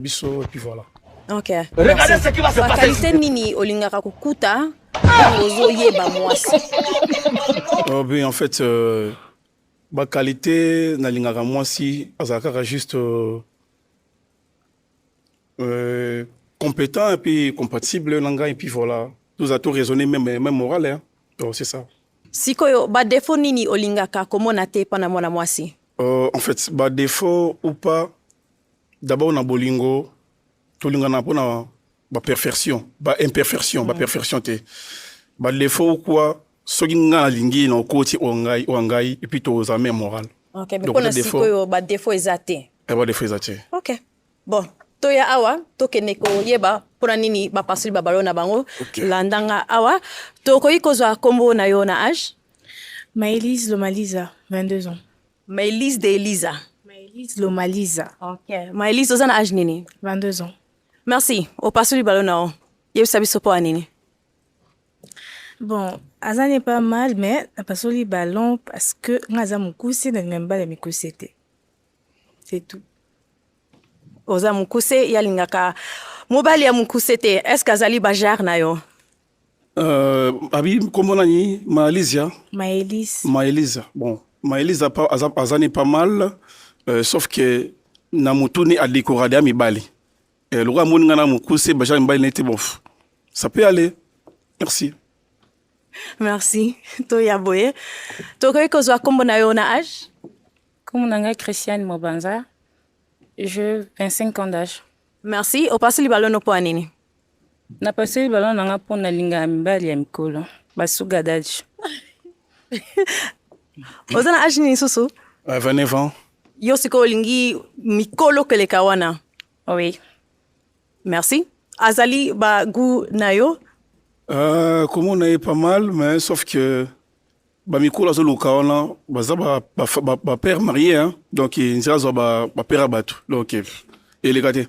biso et puis voilà Ok. Regardez ce qui va se passer. Qualité nini olingaka kukuta ozo yeba mwasi. Oh bien en fait euh, ba qualité na lingaka mwasi azalaka juste euh, euh, compétent et puis compatible na ngai et puis voilà. Nous a tout raisonné même même moral hein. Oh, c'est ça. Sikoyo ba défaut nini olingaka komona te pana mwana mwasi? Euh, en fait ba défaut ou pas D'abord na bolingo tolingana mpo na ba perfection ba imperfection ba perfection te ba défaut ou quoi soki ngai nalingi na okoti oyo ngai oyo ngai epuis toza meme moral okay, donc na sikoyo ba défaut eza te eh, ba défaut eza te ok bon toya awa tokende koyeba mpona nini bapasoli babalo na bango okay. landanga awa tokoki kozwa nkombo na yo na age maelise lomaliza 22 ans Maelise de Elisa. Maelise Lomalisa. Ok. Maelise oza na age nini? 22 ans. Merci. Opasoli balo na yo. Yebisa biso mpo ya nini? Bon, aza n'est pas mal mais napasoli ballon parce que nga aza mokuse nalinga mibale ya mikuse te. C'est tout. Oza mokuse ye alingaka mobali ya mokuse te. Est-ce que azali bajare na yo? Euh, abi nkombo nani maelisia maelise maelisa bon maelisa pa- aza, aza ne pas mal euh, sauf que na motuni adekorade ya mibali euh, lokola amoni ngai na mokuse baja mibali na ye te bof ça peut aller merci merci toya boye tokoki kozwa nkombo na yo na age Comme on a Christiane Mobanza, j'ai 25 ans d'âge. merci opasoli balono mpo ya nini napaseli balon na nga mpo nalingaka mibali ya mikolo basuga daji oza na age nini lisusu 29 ans yo sikoyo olingi mikolo keleka wana oui merci azali bagout na yo euh, komona ye pas mal mais sauf que bamikolo azoluka wana baza bapère marie donc nzela azwa bapère ya bato donc eleka te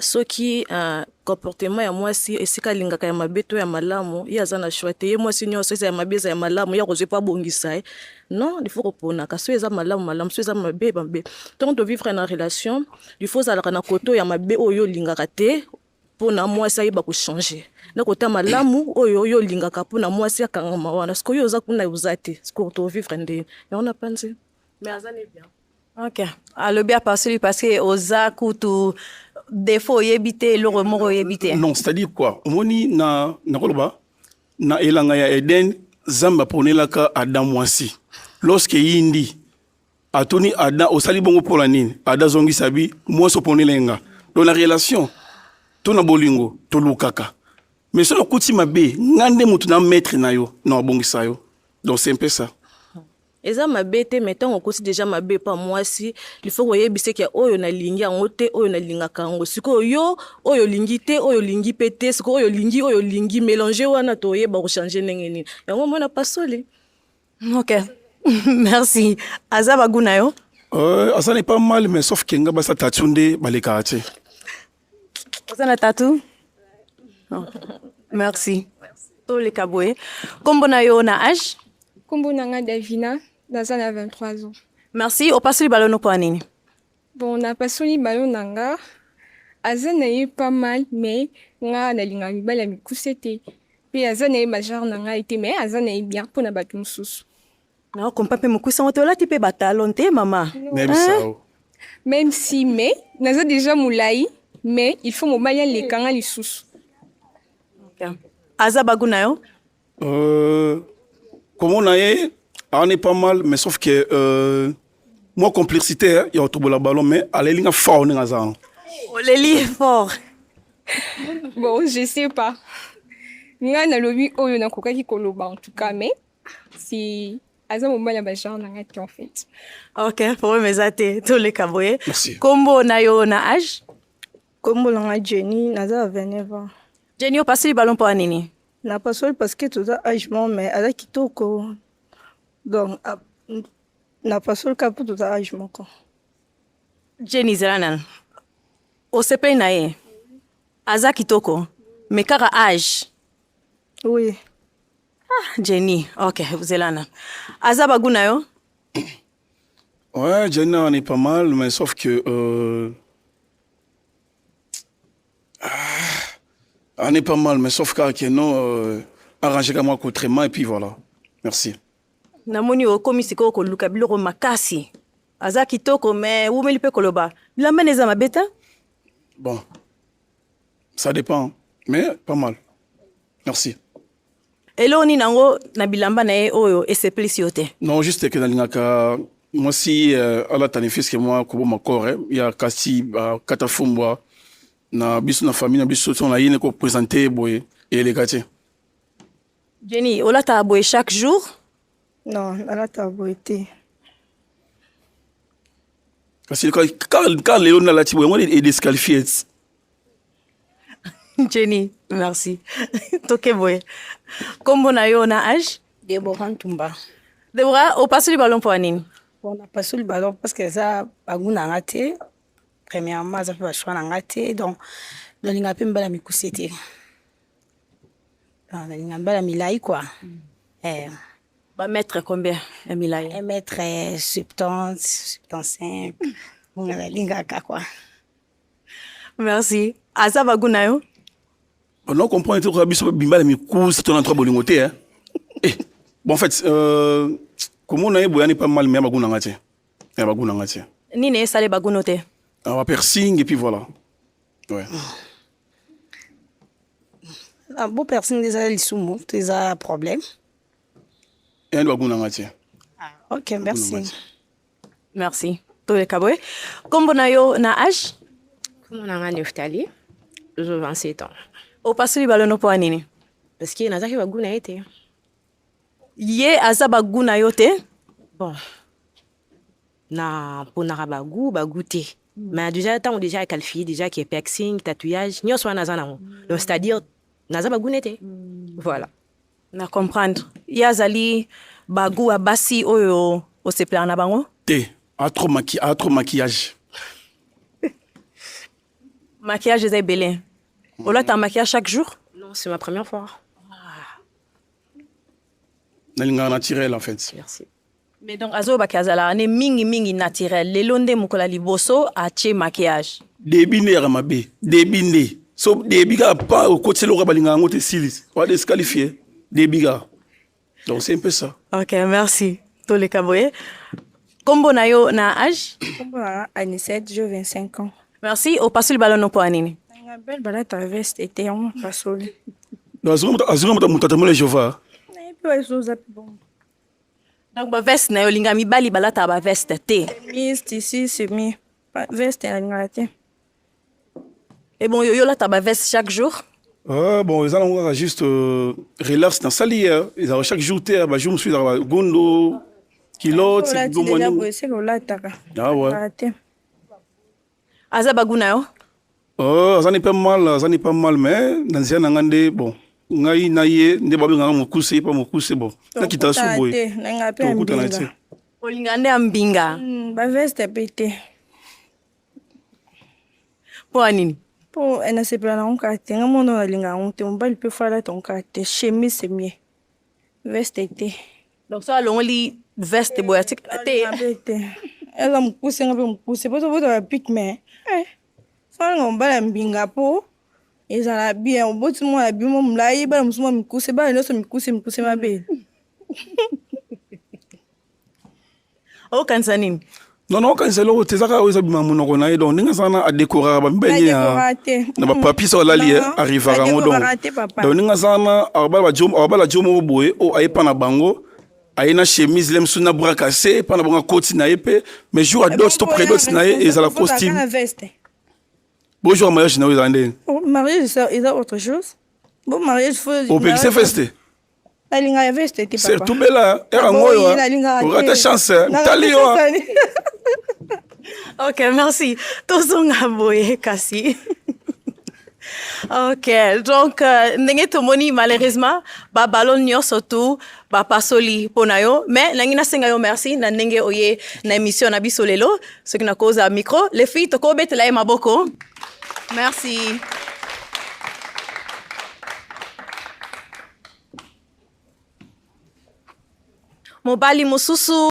Soki comportement ya mwasi esika alingaka ya mabe to ya malamu, ye aza na choix te. Ye mwasi nyonso eza ya mabe eza ya malamu, ye akozwi mpo abongisa ye. Non, il faut koponaka soki eza malamu malamu, soki eza mabe mabe. Ntango tovivre na relation, il faut ozalaka na kote oyo ya mabe oyo olingaka te mpo na mwasi ayeba kochanger na kota malamu oyo yo olingaka mpo na mwasi akangama wana sikoyo oza kuna oza te sikoyo tovivre nde yango napanzi Mais aza ne bien. Ok. Alobi ah, apasoli parce que oza kutu défaut oyebi te eloko moko oyebi te. Non, c'est-à-dire quoi? Omoni na nakoloba na elanga ya Eden Zamba aponelaka Adam mwasi. Lorsque yindi atuni Adam osali bongo mpo na nini? Adam azongisa bi mwasi oponela nga. Donc na relation to na bolingo tolukaka. Mais soki okuti mabe, nga nde moto na maître na yo, na obongisa yo. Donc c'est un peu ça. Eza mabe te mais tango okosi dejà mabe epa mwasi il faut koyebisa ke oyo nalingi yango te oyo nalingaka yango sikoyo yo oyo olingi te oyo olingi mpe te sikoyo oyo olingi oyo olingi mélange wana toyeba kochange ndenge nini yango mwana pasoli ok merci aza bagu na yo euh, aza na epa mal mais sauf ke nga basa tatiu nde balekaka te oza na tatu oh. merci toleka boye nkombo na yo na age nkombo na nga davina naza na 23 ans merci opasoli balo noko ya nini bon napasoli balo na nga aza na ye pas mal mais nga nalingaka mibali ya mikuse te mpe aza na ye bajare na ngai te mais aza na ye bien mpo na bato mosusu Na kompa mpe mokuse yango te olati mpe batalon te mama Même Hein? ça, oh. Même si mais naza déjà molai mais il faut mobali aleka nga lisusu. aza bagu na yo Euh, comment on a est, on est pas mal, mais sauf que euh, moi complexité, hein, il y a autour de la ballon, mais à la ligne fort, on est là. oleli fort Bon, je sais pas. Nga nalobi oyo nakokaki koloba en tout cas mais si aza mobali ya bagenre na ngai te en fait ok problème eza te toleka boye kombo na yo na age kombo na ngai jenny naza ya 29 ans jenny opasoli balo mpo ya nini napasoli parce que toza age mo mais aza kitoko donc napasoli kaka mpo toza age moko jenny zela nana osepeli na ye aza kitoko mais kaka age oui Ah, Jenny, ok, zelana. Aza bagu na yo? Ouais, Jenny, on est pas mal, mais sauf que... Euh... Ah, on est pas mal, mais sauf que non, euh, arrangé comme moi autrement, et puis voilà. Merci. namoni okomi sikoyo koluka biloko makasi aza kitoko me wumeli mpe koloba bilamba na eza mabe te bon ça dépend mais pas mal Merci. Eloko nini yango na bilamba na ye oyo esepelisi yo te? Non, juste que nalingaka mwasi euh, alatani fiske mwa koboma kore ya kasi bakata fumbwa na biso na famille na biso so nayini kopresente boye eleka te. Jenny, olataka boye chaque jour? Non, nalataka boye te. Kasi kaka lelo nalati boye yango edesqualifie Jenny, merci. Toke boye. Kombo na yo na âge? Deborah Ntumba. Deborah, opasoli ballon mpo ya nini? Bon, napasoli ballon parce que eza bagu na nga te. Premièrement, aza mpe ba choix na nga te. Donc, nalinga mpe mbala mikuse te. Donc, nalinga mbala milai quoi. Mm. Eh. Ba mètre combien ya milai? Un mètre 70, 75. Nalingaka quoi. Merci. Aza bagu na yo? On non comprendre te koyeba biso bimba na mikusa to na ntoka bolingo te hein. Eh, bon en fait euh, komona ye boyani pas mal mais ya bagu na nga te ya bagu na nga te Nini esale bagu no te? awa piercing et puis voilà ouais. Ah, bo piercing nde ezala lisumu to eza problème? eyani bagu na nga te Ah, ok merci Merci. Toleka boye. Kombo na yo na âge? Kombo na nga Neftali. Ozo 27 ans. Opasoli balono mpo ya nini? Parce que nazaki bagu na ye te. Ye aza bagu na yo te? Bon. Na ponaka bagu, bagu te. Mm. Mais déjà ntango déjà ya qualifie déjà ke piercing, tatouage, nyonso wana naza nango. Donc c'est-à-dire naza bagu na ye te. Mm. Voilà. Na comprendre. Ye azali ba gout ya basi oyo osepelaka na bango? Te, a trop maki, a trop maquillage. Maquillage eza ebele. Olata maquillage chaque jour? Non, c'est ma première fois. Nalingaka naturel en fait. Merci. Mais donc azoba ke azalaka ne mingi mingi naturel lelo nde mokolo ya liboso atie maquillage debi nde yaka mabe debi nde so debi kaka pa okotisi eloko balinga yango te esilisi wa desqualifie debi kaka donc c'est un peu ça ok merci toleka boye kombo na yo na age kombo na anisette jo 25 ans merci opasoli balono mpo ya nini belle balata veste ete yango opasoli azonga moto atambola jehova nayebi oza mpe bongo Donc ba veste na yo linga mibali balata ba veste te. Miss tisi semi ba veste na linga te. Et bon yo yo lata ba veste chaque jour. Euh, bon eza nango kaka juste euh, relax na sali euh, ezalaka chaque jour te ba jour mosusu ezalaka gondo kilote bomwani ah ouais. aza bagu na yo oh, azani mpe mal azani mpe mal mais na nzela na ngai nde bon ngai na ye nde babengaka mokuse mpa mokuse bon nakita su boye tokutana te olinga nde ya mbinga hmm, baveste mpe te mpo ya nini mpo eh, nasepela na yango kaka te ngai mono nalinga yango te mobali mpe fala tongo kaka te chemise mie veste te donc soki alongoli veste boye atika te eza mokuse nga mpe mokuse mpo tobotaka pik me eh. salanga mobala ya mbinga mpo ezala bien oboti mwana ya bimo molai bana mosusu mwa mikuse bana nyonso mikuse mikuse mabe okanisa nini non non okanisa eloko te ezaka oyo ezabima monoko na ye donc ndenge aza wana adekoraka bamibali ye na bapapisa olali arrivaka yango donc donc ndenge aza wana abala jo moko boye oyo ayepa na bango aye na chemise le mosusu na bras cassé epa na bango akoti na ye mpe mais jour ya dot to predot na ye ezala costume bojour ya mariage na yo ezala ndenge oh, mariage eza autre chose bo mariage opekise feste nalingaka veste te papa tubela era ngoyo orata chance tali yo ok merci tozonga boye kasi ok donc euh, ndenge tomoni malheureusement babalon nyonso tu bapasoli mpo na yo mais nangi nasenga yo merci na ndenge oye na émission na biso lelo soki nakozala micro le fille tokobetela ye maboko Merci. Mobali mosusu